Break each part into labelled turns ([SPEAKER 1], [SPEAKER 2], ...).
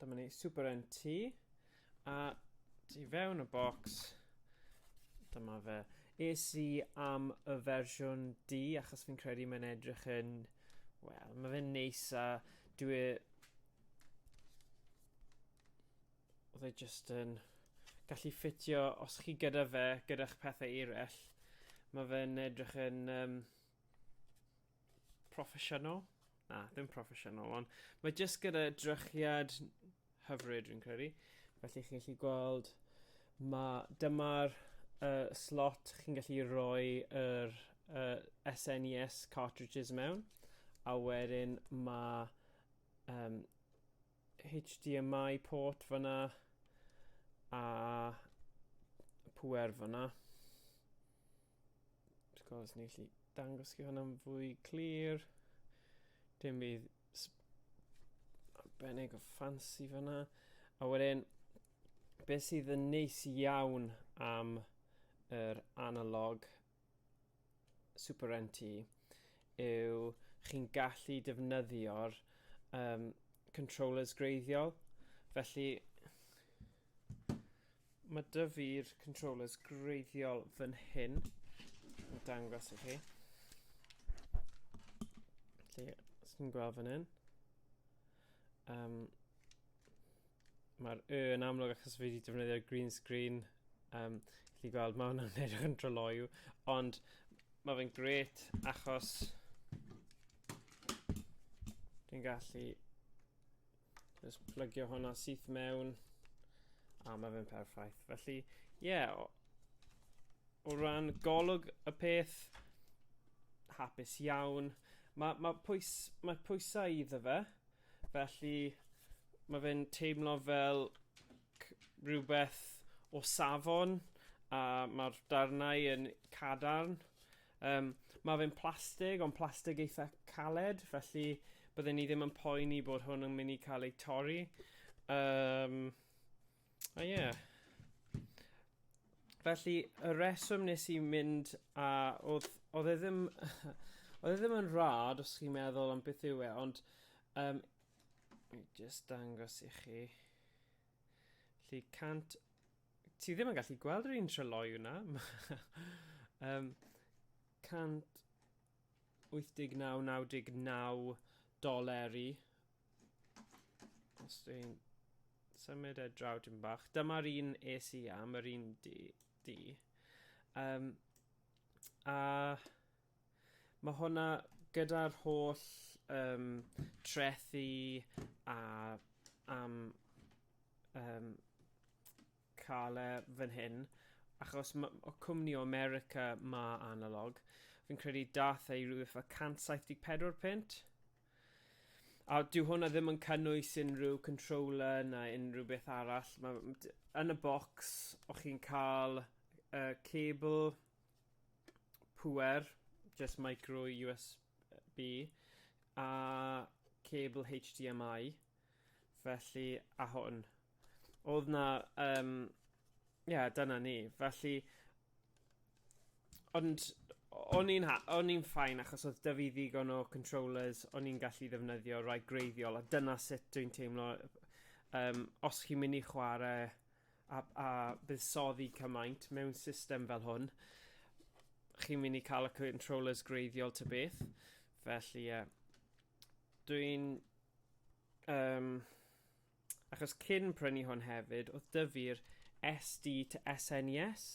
[SPEAKER 1] Dyma ni, Super NT. A ti fewn y bocs, dyma fe. Es i am y fersiwn D, achos fi'n credu mae'n edrych yn... Wel, mae fe'n neis a dwi... E- oedd e just yn gallu ffitio os chi gyda fe, gyda'ch pethau eraill. Mae fe'n edrych yn um, proffesiynol. Na, ddim proffesiynol, ond mae jyst gyda drychiad hyfryd, rwy'n credu. Felly chi'n gallu gweld, mae dyma'r uh, slot chi'n gallu rhoi yr uh, SNES e cartridges mewn, a wedyn mae um, HDMI port fyna a pwer fyna. Wrth gwrs, ni'n gallu dangos chi hwnna'n fwy clir. Dim bydd arbennig o ffansi fyna. A wedyn, beth sydd yn neis iawn am yr analog Superenti yw chi'n gallu defnyddio'r um, controllers greiddiol. Felly, mae dy fi'r controllers greiddiol fan hyn. Yn dangos i chi. Felly, os chi'n gweld fan hyn. Um, mae'r y yn amlwg achos fi wedi defnyddio green screen. Um, chi gweld, mae hwnna'n edrych yn droloiw. Ond mae fe'n gret achos dwi'n gallu just plygio hwnna syth mewn a mae fe'n perffaith. Felly, ie, yeah, o, o ran golwg y peth, hapus iawn. Mae, mae, pwys, mae pwysau iddo fe, Felly, mae fe'n teimlo fel c- rhywbeth o safon, a mae'r darnau yn cadarn. Yym, mae fe'n plastig, ond plastig eitha caled, felly bydden i ddim yn poeni bod hwn yn mynd i cael ei torri. Yym. A ie. Felly, y reswm nes i mynd a oedd, oedd e ddim, oedd e ddim yn rad os chi'n meddwl am beth yw e, ond um, mi just dangos i chi. Felly, cant... Ti ddim yn gallu gweld yr un treloi yna. um, 189.99 doleri Os dwi'n symud e draw dim bach. Dyma'r un es i am, yr un di. di. Um, a mae hwnna gyda'r holl um, trethi a am um, cael e fan hyn, achos ma- o cwmni o America ma analog. Fi'n credu dath ei rhywbeth fel 174 pint. A dyw hwnna ddim yn cynnwys unrhyw controller na unrhyw beth arall. Ma', m- d- yn y bocs, o chi'n cael y cable pŵer, just micro USB, a cable HDMI. Felly, a hwn. Oedd na, um, ie, yeah, dyna ni. Felly, ond o'n i'n o'n i'n ffain achos oedd dyfu ddigon o controllers o'n i'n gallu ddefnyddio rai greiddiol a dyna sut dwi'n teimlo um, os chi'n mynd i chwarae a, a buddsoddi cymaint mewn system fel hwn chi'n mynd i cael y controllers greiddiol ty beth felly ie yeah. dwi'n Um, achos cyn prynu hwn hefyd, oedd dyfu'r SD to SNES,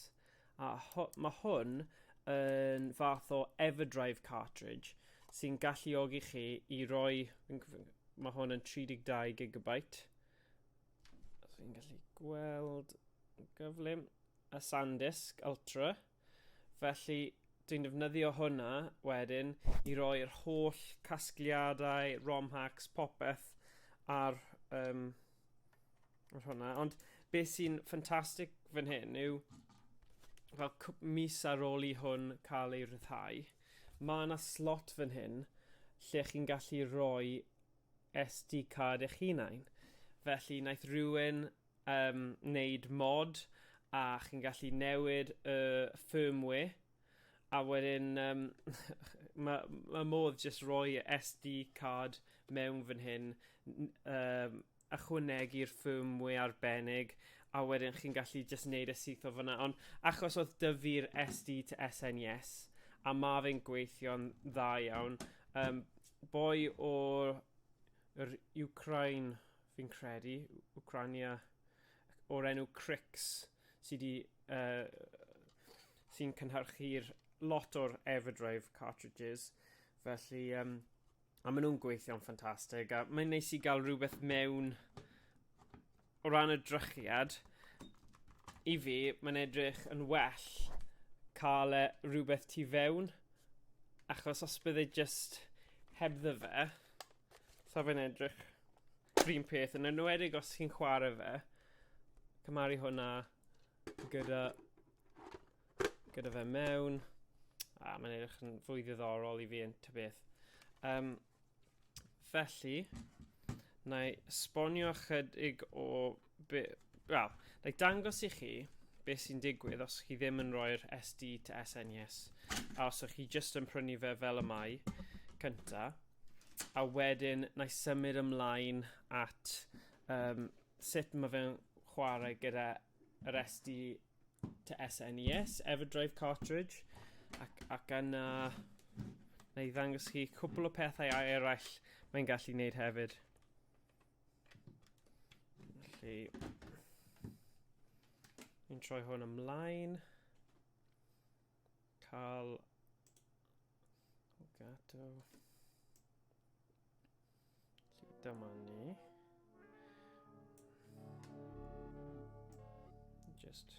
[SPEAKER 1] e a ho mae hwn yn fath o Everdrive cartridge sy'n galluogi chi i roi, mae hwn yn 32 GB, os fi'n gallu gweld yn gyflym, a SanDisk Ultra, Felly, dwi'n defnyddio hwnna wedyn i roi'r holl casgliadau, ROM hacks, popeth ar, um, ar hwnna. Ond beth sy'n ffantastig fan hyn yw, fel mis ar ôl i hwn cael ei rhyddhau, mae yna slot fan hyn lle chi'n gallu rhoi SD card eich hunain. Felly, naeth rhywun um, wneud mod a chi'n gallu newid y firmware a wedyn um, mae ma modd jyst rhoi y SD card mewn fan hyn um, ychwanegu'r firmware arbennig a wedyn chi'n gallu jyst wneud y syth o fyna ond achos oedd dyfu'r SD to SNES a ma fe'n gweithio'n dda iawn um, boi o'r Ukraine fi'n credu, Wcrania o'r enw Crix sydd wedi uh, sy'n cynhyrchu'r lot o'r Everdrive cartridges. Felly, um, a maen nhw'n gweithio'n ffantastig. A mae'n neis i gael rhywbeth mewn o ran y drychiad. I fi, mae'n edrych yn well cael e rhywbeth tu fewn. Achos os bydde just hebddo fe, Sa fe'n edrych rhywun peth yn enwedig os chi'n chwarae fe. Cymaru hwnna gyda gyda fe mewn. A mae'n edrych yn fwy ddiddorol i fi yn ty beth. Um, felly, na i sbonio chydig o be, wel, like dangos i chi beth sy'n digwydd os chi ddim yn rhoi'r SD to SN yes, a os ych chi just yn prynu fe fel y mae cynta, a wedyn na i symud ymlaen at um, sut mae fe'n chwarae gyda yr SD to SNES, e Everdrive cartridge, ac, ac yna na i ddangos chi cwpl o pethau eraill mae'n gallu wneud hefyd. Felly, ni'n troi hwn ymlaen. Cael... O gadw. Felly, dyma ni. Just...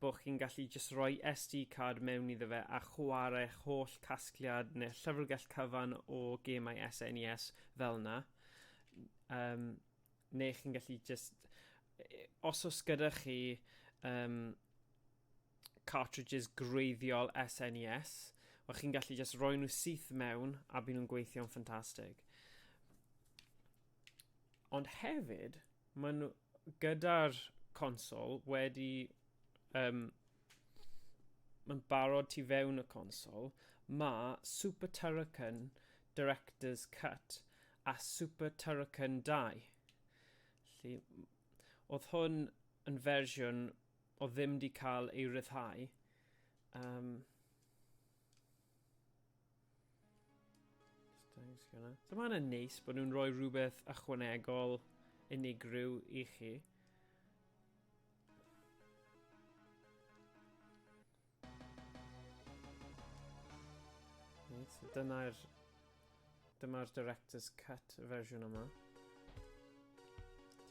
[SPEAKER 1] bo chi'n gallu jyst rhoi SD card mewn iddo fe a chwarech holl casgliad neu llyfrgell cyfan o gemau SNES fel na. Um, neu chi'n gallu jyst... Os oes gyda chi um, cartridges greiddiol SNES, wel chi'n gallu jyst rhoi nhw syth mewn a byd nhw'n gweithio'n ffantastig. Ond hefyd, Maen nhw gyda'r consol wedi um, yn barod tu fewn y consol. Mae Super Turrican Director's Cut a Super Turrican 2. Felly, oedd hwn yn fersiwn o ddim di cael ei ryddhau. Um, Thanks, Gina. So mae'n yn neis bod nhw'n rhoi rhywbeth ychwanegol unigryw i chi. Right, so dyna'r Dyma'r Director's Cut fersiwn yma.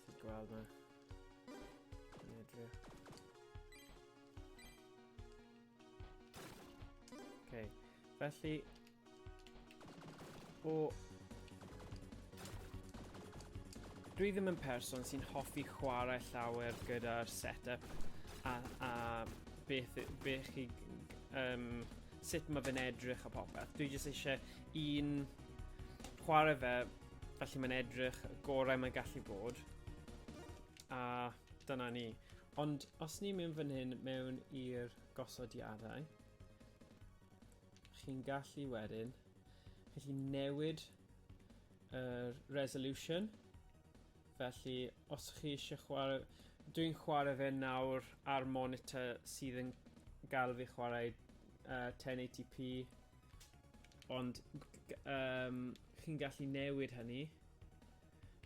[SPEAKER 1] Chi'n gweld na. Yn edrych. Okay. Felly, o... Dwi ddim yn person sy'n hoffi chwarae llawer gyda'r setup a, a beth, beth chi um, sut mae fe'n edrych a popeth. Dwi jyst eisiau un chwarae fe, felly mae'n edrych y gorau mae'n gallu bod. A dyna ni. Ond os ni'n mynd fan hyn mewn i'r gosodiadau, chi'n gallu wedyn, chi'n gallu newid yr resolution, Felly, os chi eisiau chwarae... Dwi'n chwarae fe nawr ar monitor sydd yn gael fi chwarae uh, 1080p. Ond um, chi'n gallu newid hynny.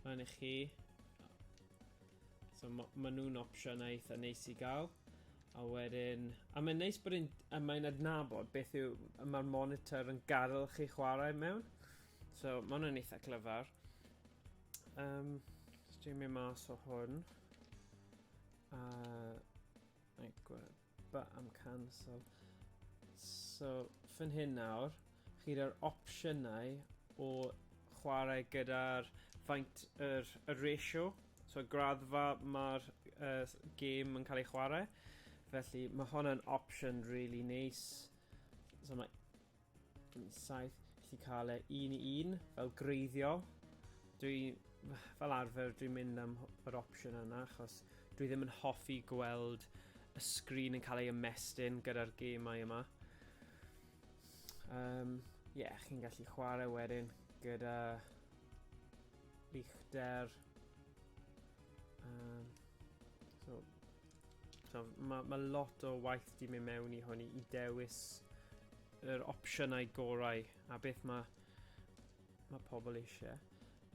[SPEAKER 1] Mae'n i chi. So ma, ma nhw'n opsiynau eitha neis i gael. A wedyn... A mae'n neis bod yn... A mae'n adnabod beth yw... Mae'r monitor yn gadael chi chwarae mewn. So, maen nhw'n eitha clyfar. Um, just dwi'n mynd mas o hwn. A... Neu gweld, but I'm cancel. So, fyn hyn nawr, chi gyda'r opsiynau o chwarae gyda'r faint yr, y ratio. So, graddfa mae'r uh, game yn cael ei chwarae. Felly, mae hwnna'n opsiwn really nice. So, mae Yn saith, gallu cael e un i un, fel greiddiol. Dwi, fel arfer, dwi'n mynd am yr opsiwn yna, achos dwi ddim yn hoffi gweld y sgrin yn cael ei ymestyn gyda'r gemau yma. Um, yeah, chi'n gallu chwarae wedyn gyda Lichter. Um, so, So, mae ma lot o waith di mynd mewn i hwn i dewis yr opsiynau gorau a beth mae ma pobl eisiau.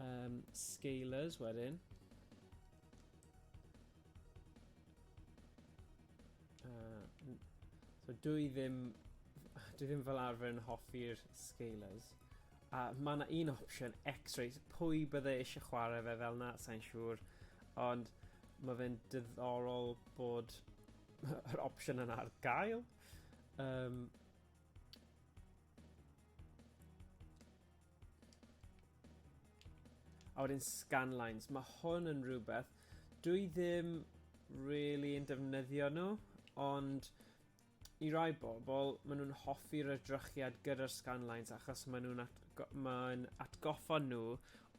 [SPEAKER 1] Um, scalers wedyn. Uh, so dwi ddim, dwi ddim fel arfer yn hoffi'r scalers, A mae yna un opsiwn, X-rays, pwy bydde eisiau chwarae fe fel na, sa'n siŵr, ond mae fe'n diddorol bod yr opsiwn yna ar gael. Um, a wedyn scanlines, mae hwn yn rhywbeth, dwi ddim really yn defnyddio nhw, ond I rai bobl, maen nhw'n hoffi'r edrychiad gyda'r scanlines achos maen nhw'n atgo mae'n atgoffa nhw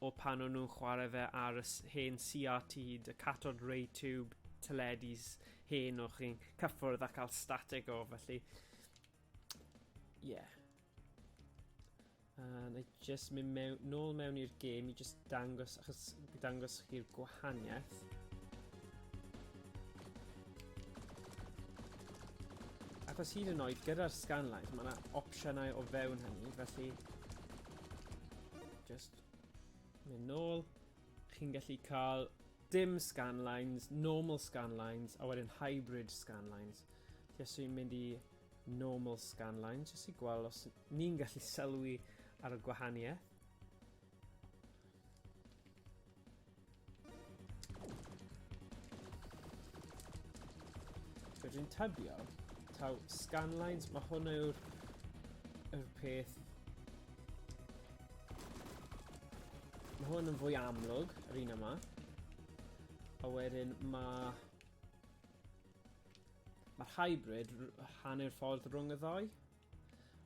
[SPEAKER 1] o pan o'n nhw'n chwarae fe ar y hen CRT, y catod ray tube teledis hen o'ch chi'n cyffwrdd a cael static o, felly... Ie. Yeah. A na i just mynd mewn, nôl mewn i'r gêm i just dangos, achos dangos chi'r gwahaniaeth. Achos hyd yn oed gyda'r scanlines, mae yna opsiynau o fewn hynny, felly... Just mynd nôl. Chi'n gallu cael dim scanlines, normal scanlines, a wedyn hybrid scanlines. Felly os yw'n mynd i normal scanline jyst i gweld os ni'n gallu sylwi ar y gwahaniaeth. Rydyn tybio taw scanlines, mae hwn yw'r yr peth Mae hwn yn fwy amlwg, yr un yma. A wedyn mae Mae'r hybrid hanner ffordd rhwng y ddau,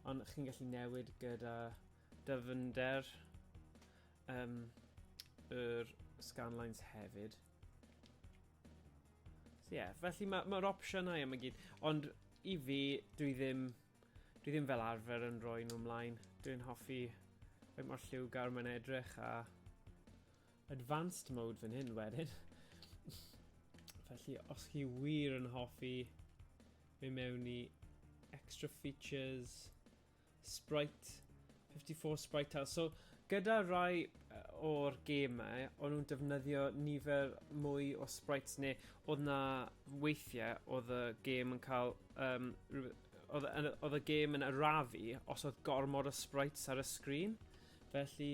[SPEAKER 1] ond chi'n gallu newid gyda dyfnder um, yr scanlines hefyd. So yeah, felly mae'r ma opsiynau yma gyd, ond i fi, dwi ddim, dwi ddim fel arfer yn rhoi nhw ymlaen. Dwi'n hoffi fe mor lliwgar mae'n edrych a advanced mode fan hyn wedyn. Felly, os chi wir yn hoffi mynd mewn i extra features, sprite, 54 sprite tiles. So, gyda rai o'r gemau, o'n nhw'n defnyddio nifer mwy o sprites neu oedd na weithiau oedd y gêm yn cael um, oedd y gêm yn arafu os oedd gormod o sprites ar y sgrin. Felly,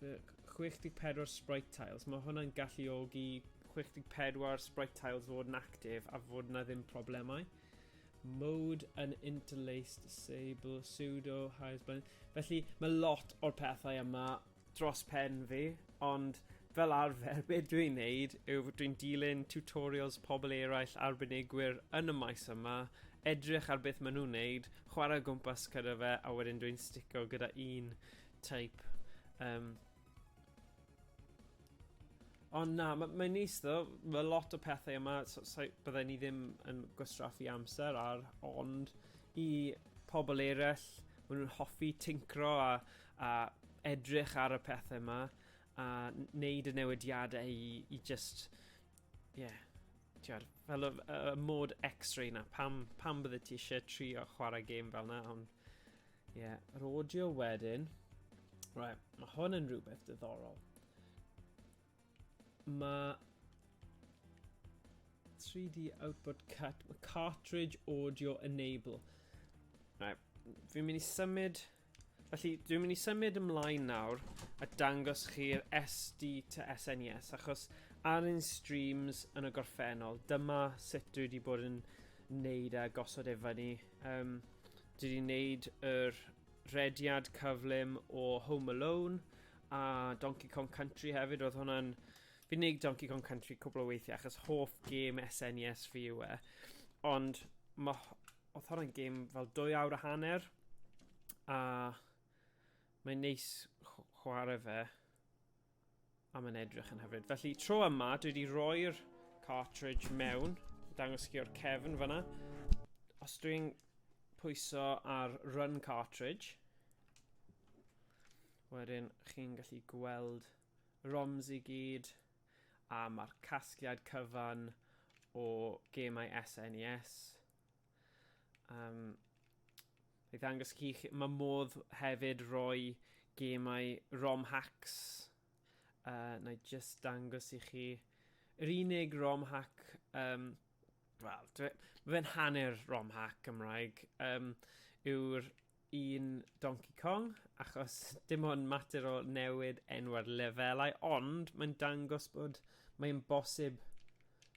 [SPEAKER 1] 64 sprite tiles. Mae hwnna'n galluogi 64 sprite tiles fod yn actif a fod yna ddim problemau. Mode yn interlaced disable pseudo highest blend. Felly mae lot o'r pethau yma dros pen fi, ond fel arfer be dwi'n neud yw dwi'n dilyn tutorials pobl eraill arbenigwyr yn y maes yma, edrych ar beth maen nhw'n neud, chwarae gwmpas gyda fe a wedyn dwi'n sticio gyda un type. Um, Ond na, mae'n ma nis ddo, mae lot o pethau yma, so, so, byddai ni ddim yn gwastraffu amser ar, ond i pobl eraill, maen nhw'n hoffi tincro a, a edrych ar y pethau yma, a wneud y newidiadau i, i just, ie, yeah, tiwar, fel y, y mod x-ray na, pam, pam bydde ti eisiau trio chwarae gêm fel na, ond Ie, yeah, yr audio wedyn. Right, mae hwn yn rhywbeth diddorol. Mae 3D output cut, cartridge audio enable. Right, fi'n mynd i symud Felly, dwi'n mynd i symud ymlaen nawr a dangos chi'r SD to SNES, e achos ar un streams yn y gorffennol, dyma sut dwi wedi bod yn neud a gosod efo ni. Um, Dwi wedi wneud yr rediad cyflym o Home Alone a Donkey Kong Country hefyd. Oedd hwnna'n... Fi wedi wneud Donkey Kong Country cwbl o weithiau achos hoff gêm SNES e fi yw e. Ond ma... oedd hwnna'n gêm fel dwy awr a hanner a mae'n neis chwarae fe. A mae'n edrych yn hyfryd. Felly, tro yma, dwi wedi rhoi'r cartridge mewn. Dangos chi o'r cefn fyna. Os dwi'n pwyso ar run cartridge, wedyn chi'n gallu gweld roms i gyd, a mae'r casgliad cyfan o gemau SNES, e Um, I ddangos chi, mae modd hefyd roi gemau ROM hacks. Uh, na i just dangos i chi. Yr unig ROM hack, um, wel, mae fe'n hanner ROM hack Cymraeg, um, yw'r un Donkey Kong, achos dim ond mater o newid enw'r lefelau, ond mae'n dangos bod mae'n bosib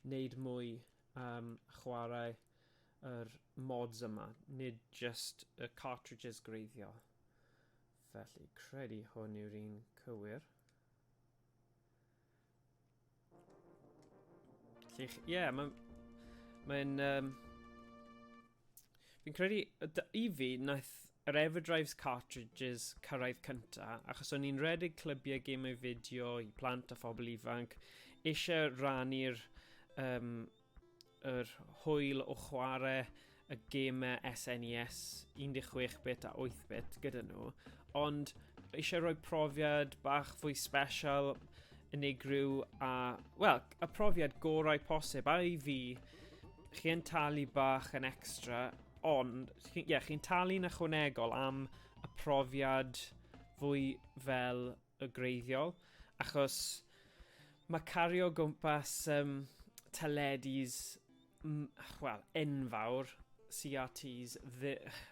[SPEAKER 1] wneud mwy am chwarae yr mods yma, nid jyst y cartridges greiddiol. Felly, credu hwn yw'r un cywir. Ie, yeah, mae'n... Mae'n... Um, Fi'n credu, i fi, naeth yr Everdrives cartridges cyrraedd cynta, achos o'n i'n redeg clybiau gemau fideo i plant a phobl ifanc, eisiau rannu'r um, yr hwyl o chwarae y gemau SNES 16-bit e a 8-bit gyda nhw, ond eisiau rhoi profiad bach fwy special, unigryw a, wel, y profiad gorau posib, a i fi, chi'n talu bach yn extra, ond, ie, yeah, chi'n talu'n ychwanegol am y profiad fwy fel y greiddiol, achos mae cario gwmpas um, teledis, wel, enfawr, CRTs,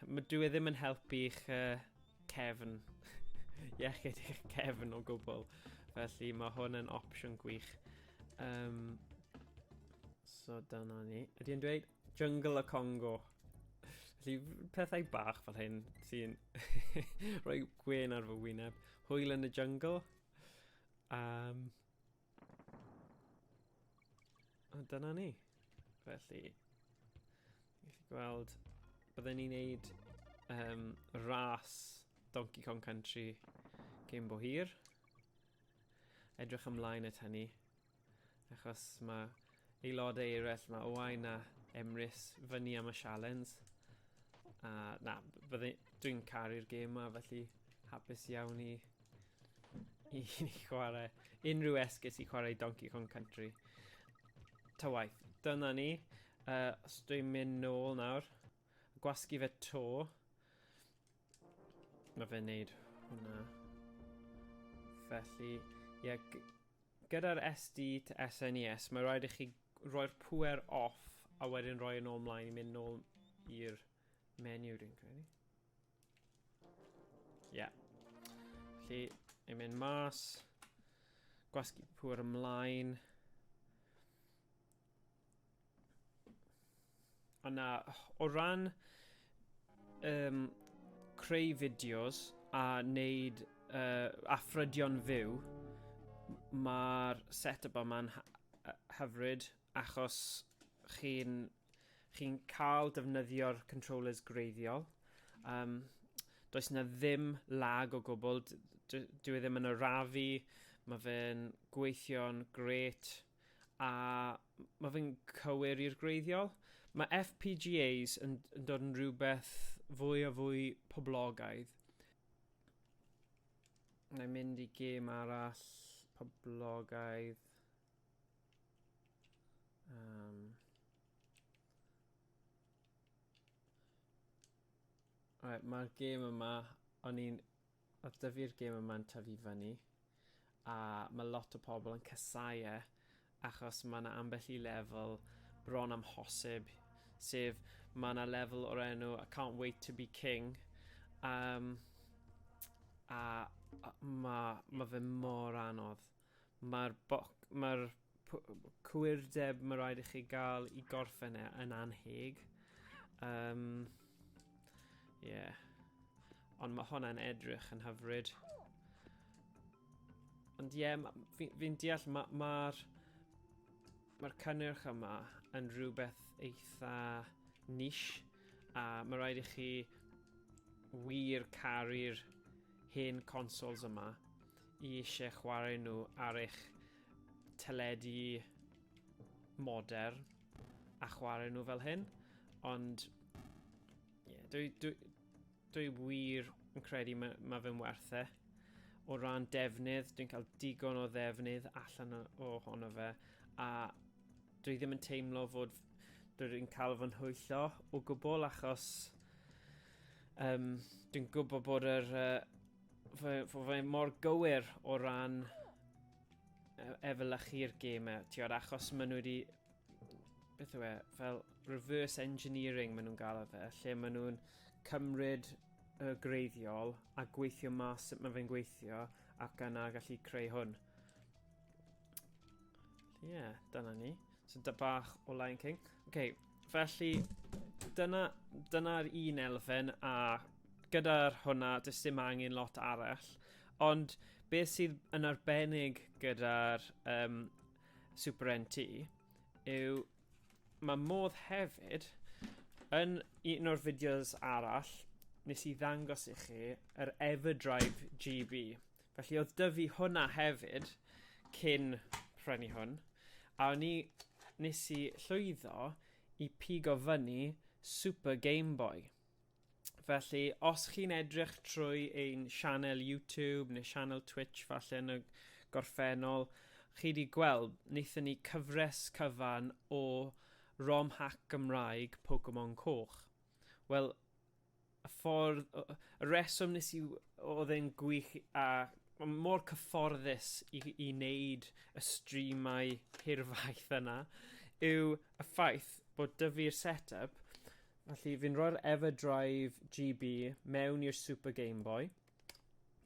[SPEAKER 1] mae dwi e ddim yn helpu i'ch uh, cefn, iechyd i'ch cefn o gwbl, felly mae hwn yn opsiwn gwych. Um, So dyna ni. Ydy yn dweud Jungle y Congo. Felly pethau bach fel hyn sy'n rhoi gwen ar fy wyneb. Hwyl yn y jungle. Um, a dyna ni. Felly, i chi gweld, byddwn ni'n neud um, ras Donkey Kong Country cyn bo hir. Edrych ymlaen at hynny. achos mae aelodau eraill, mae Owain a Emrys fyny am y sialens. A na, dwi'n caru'r gêm yma, felly hapus iawn i, i chwarae unrhyw esgus i chwarae Donkey Kong Country. Ta waith, dyna ni. Uh, os dwi'n mynd nôl nawr, gwasgu fe to. Mae fe'n neud hwnna. Felly, ie, yeah, gyda'r SD to SNES, e mae rhaid i chi roi'r pwer off a wedyn roi yn ôl mlaen i mynd nôl i'r menu dwi'n credu. Ie. Yeah. Felly, ni'n mynd mas, gwasgu pwer ymlaen. A na, o ran um, creu fideos a wneud uh, afrydion fyw, mae'r set-up yma'n hyfryd achos chi'n chi cael defnyddio'r controllers greiddiol. Um, does na ddim lag o gwbl, dwi e ddim yn arafu, mae fe'n gweithio'n gret. A mae fe'n cywir i'r gwreiddiol. Mae FPGAs yn, yn dod yn rhywbeth fwy a fwy poblogaidd. Na i mynd i gêm arall poblogaidd. Um, right, Mae'r gêm yma, o'n i'n Oedd Dyfi'r gêm yma'n tyfu fyny a mae lot o pobl yn casáu e achos mae yna ambell i lefel bron amhosib sef mae yna lefel o'r enw I can't wait to be king um, a, a mae ma fe mor anodd Mae'r boc- mae'r p- cywirdeb mae rhaid i chi gael i gorffen e yn anheg. Um, yeah. Ond mae hwnna'n edrych yn hyfryd. Ond ie, yeah, fi'n fi, deall mae'r ma, ma cynnyrch yma yn rhywbeth eitha niche a mae rhaid i chi wir caru'r hen consoles yma i eisiau chwarae nhw ar eich teledu modern a chwarae nhw fel hyn, ond yeah, dwi, dwi, dwi wir yn credu mae, mae fe'n werth e. O ran defnydd, dwi'n cael digon o ddefnydd allan o honno fe, a dwi ddim yn teimlo fod dwi'n cael fy nhwyllo o gwbl achos um, dwi'n gwybod bod yr uh, Fy, fy, fy mor gywir o ran e, efelychu'r gêm e, ti'n gwybod, achos maen nhw wedi, beth yw e, fel reverse engineering maen nhw'n gael o fe, lle maen nhw'n cymryd y greiddiol a gweithio mas sut mae fe'n gweithio ac yna gallu creu hwn. Ie, yeah, dyna ni. So da bach o Lion King. OK, felly dyna'r dyna un elfen a gyda'r hwnna, does dim angen lot arall. Ond beth sydd yn arbennig gyda'r um, Super NT yw mae modd hefyd yn un o'r fideos arall nes i ddangos i chi yr Everdrive GB. Felly oedd dyfu hwnna hefyd cyn prynu hwn, a o'n i... nes i llwyddo i pigo fyny Super Game Boy. Felly, os chi'n edrych trwy ein sianel YouTube neu sianel Twitch falle yn y gorffennol, chi wedi gweld, wnaethon ni cyfres cyfan o rom hack Gymraeg Pokemon Coch. Wel, y ffordd o- o- y reswm nes i w- odd e'n gwych a ma' mor cyfforddus i i neud y streamau hirfaith yna yw y ffaith bod 'dy fi'r set up felly fi'n rhoi'r Everdrive GB mewn i'r Super Gameboy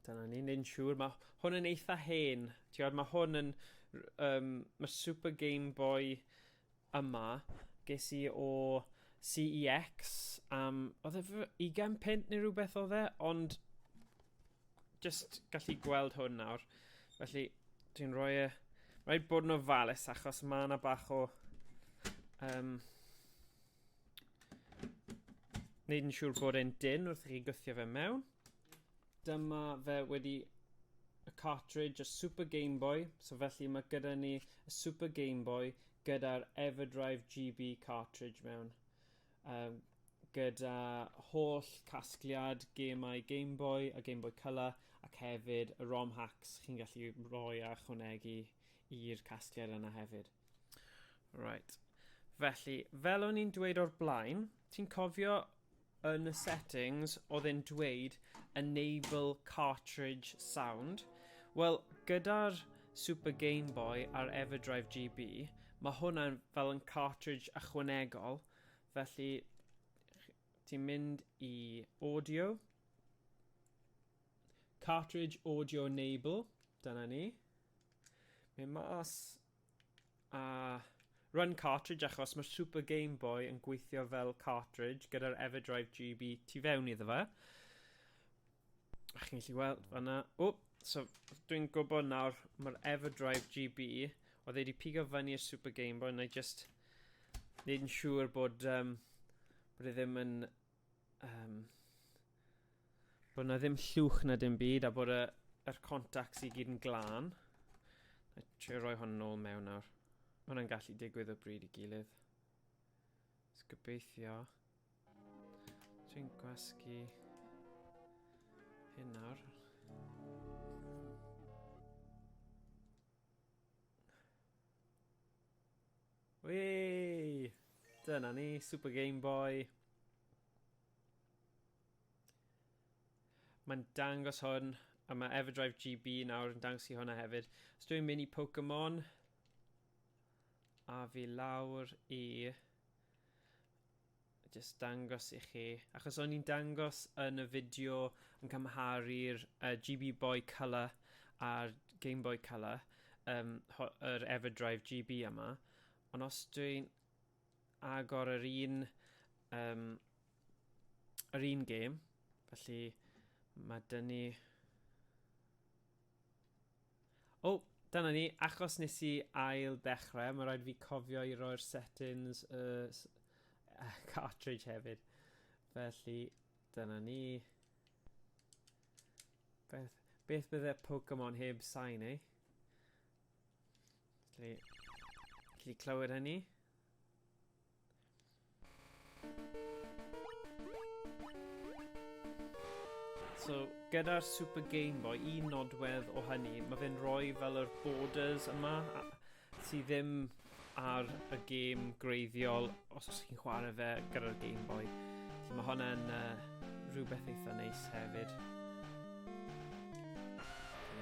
[SPEAKER 1] dyna ni neu'n siŵr ma' hwn yn eitha hen t'wod ma' hwn yn r- yym ma' Super Gameboy yma, ges i o CEX am, oedd e fy 20 punt neu rhywbeth oedd e, ond just gallu gweld hwn nawr. Felly, dwi'n rhoi e... Rhaid bod yn ofalus achos mae yna bach o... Um, Neud yn siŵr bod e'n dyn wrth i chi gythio fe mewn. Dyma fe wedi y cartridge, y Super Game Boy. So felly mae gyda ni y Super Game Boy gyda'r Everdrive GB cartridge mewn. Um, gyda holl casgliad gemau Game Boy a Game Boy Colour ac hefyd y ROM hacks chi'n gallu rhoi a chwnegu i'r casgliad yna hefyd. Right. Felly, fel o'n i'n dweud o'r blaen, ti'n cofio yn y settings oedd e'n dweud enable cartridge sound. Wel, gyda'r Super Game Boy a'r Everdrive GB, mae hwnna'n fel yn cartridge ychwanegol, felly ti'n mynd i audio, cartridge audio enable, dyna ni. Mae mas a Run cartridge achos mae'r Super Game Boy yn gweithio fel cartridge gyda'r Everdrive GB tu fewn iddo fe. A chi'n gallu weld fanna. O, so dwi'n gwybod nawr mae'r Everdrive GB oedd wedi pigo fyny i'r Super Game Boy na i just neud yn siŵr bod, um, bod e ddim yn um, bod yna ddim llwch na dim byd a bod y, yr contacts i gyd yn glân. Na trio rhoi hon yn ôl mewn nawr. Mae hwnna'n gallu digwydd o bryd i gilydd. Ys gobeithio. Dwi'n gwasgu hyn nawr. Wee! Dyna ni, Super Game Boy. Mae'n dangos hwn, a mae Everdrive GB nawr yn dangos i hwnna hefyd. Os dwi'n mynd i Pokemon, a fi lawr i jyst dangos i chi, achos o'n i'n dangos yn y fideo yn cymharu'r uh, GB Boy Color a'r Game Boy Color, um, yr Everdrive GB yma, ond os dwi'n agor yr un, um, yr un game, felly mae dyn ni O, dyna ni, achos nes i ail ddechrau, mae rhaid fi cofio i roi'r settings y uh, cartridge hefyd. Felly, dyna ni. Beth, beth bydde Pokemon heb sain, ei? Eh? Felly, felly clywed hynny. So, gyda'r Super Game Boy, un nodwedd o hynny, mae fe'n rhoi fel yr borders yma, sydd ddim ar y gêm greiddiol, os ydych chi'n chwarae fe gyda'r Game Boy. So mae hwnna'n uh, rhywbeth eitha neis hefyd.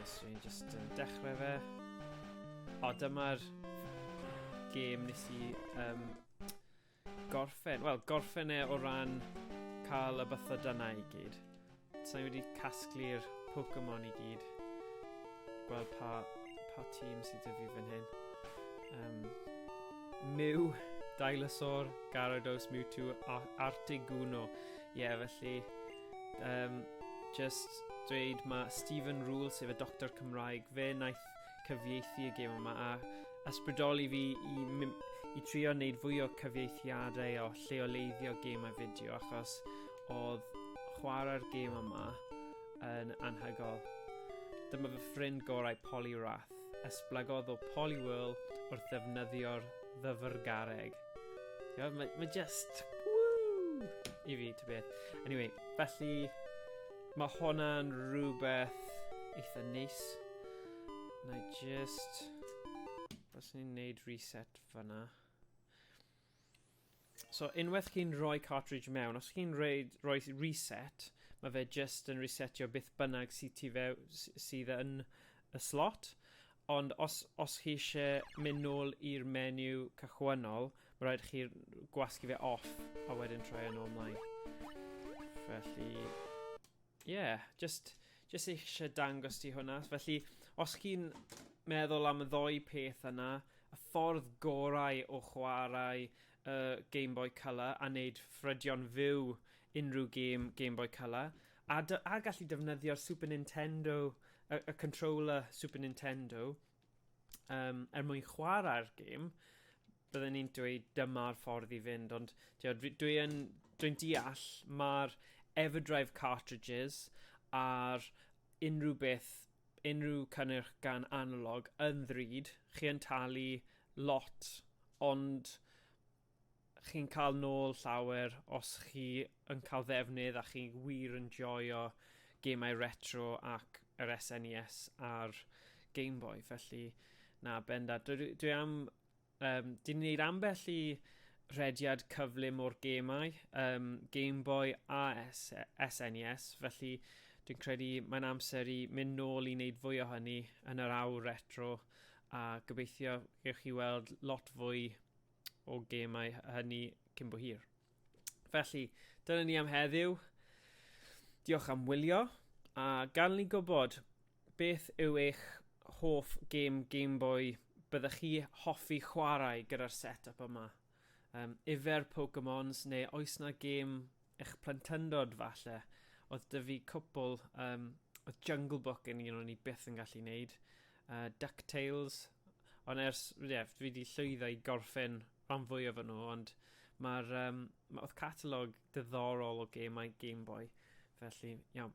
[SPEAKER 1] Yes, so just uh, dechrau fe. O, dyma'r gêm nes i um, gorffen, wel, gorffen e o ran cael y bythydanau i gyd. Sa'n wedi casglu'r Pokemon i gyd. Gweld pa, pa tîm sydd wedi fi fan hyn. Um, Mew, Dinosaur, Gyarados, Mewtwo, Artiguno. Ie, yeah, felly... Um, just dweud mae Stephen Rule, sef y doctor Cymraeg, fe wnaeth gwaith, cyfieithu y gêm yma, a ysbrydoli fi i, i trio wneud fwy o cyfieithiadau o lleoleiddio gêmau fideo, achos oedd chwarae'r gêm yma yn anhygol. Dyma fy ffrind gorau Polly Rath. Esblygodd o Polly Whirl wrth ddefnyddio'r ddyfrgareg. Mae ma, ma just... Woo! I fi, to beth. Anyway, felly Mae hwnna'n rhywbeth eitha neis. Na i just... Os ni'n neud reset fyna. So unwaith chi'n rhoi cartridge mewn, os chi'n rhoi, rhoi reset, mae fe just yn resetio beth bynnag sydd, ti fe, sydd yn y slot. Ond os, os chi eisiau mynd nôl i'r menu cychwynnol, mae rhaid chi gwasgu fe off a wedyn troi yn e ôl mlaen. Felly, ie, yeah, just, just eisiau dangos ti hwnna. Felly, os chi'n meddwl am y ddoi peth yna, y ffordd gorau o chwarae uh, Game Boy Colour a wneud ffrydion fyw unrhyw game Game Boy Colour A dy- a gallu defnyddio'r Super Nintendo y y controller Super Nintendo yym er mwyn chwarae'r gêm bydden ni'n dweud dyma'r ffordd i fynd ond t'od dwi dwi yn dwi'n deall ma'r Everdrive cartridges a'r unrhyw beth unrhyw cynnyrch gan analog yn ddrud chi yn talu lot ond chi'n cael nôl llawer os chi yn cael ddefnydd a chi wir yn joio gemau retro ac yr SNES e a'r Game Boy. Felly, na, bendant. Dwi, dwi am... Um, Dy'n ni'n gwneud ambell i rediad cyflym o'r gemau, um, Game Boy a SNES, e felly dwi'n credu mae'n amser i mynd nôl i wneud fwy o hynny yn yr awr retro a gobeithio gewch chi weld lot fwy o gemau hynny cyn bo hir. Felly, dyna ni am heddiw. Diolch am wylio, a gan ni gwybod beth yw eich hoff gêm Game Boy byddech chi hoffi chwarae gyda'r set-up yma? Um, yfer Pokemons neu oes na gêm eich plentyndod falle. Oedd dy fi cwpl, um, oedd Jungle Book yn un o'n i byth yn gallu neud, uh, DuckTales, ond ers, ie, yeah, fi wedi llwyddo i gorffen rhan fwyaf o'n nhw, ond mae'r, um, ma, oedd catalog diddorol o gemau Game Boy, felly, iawn.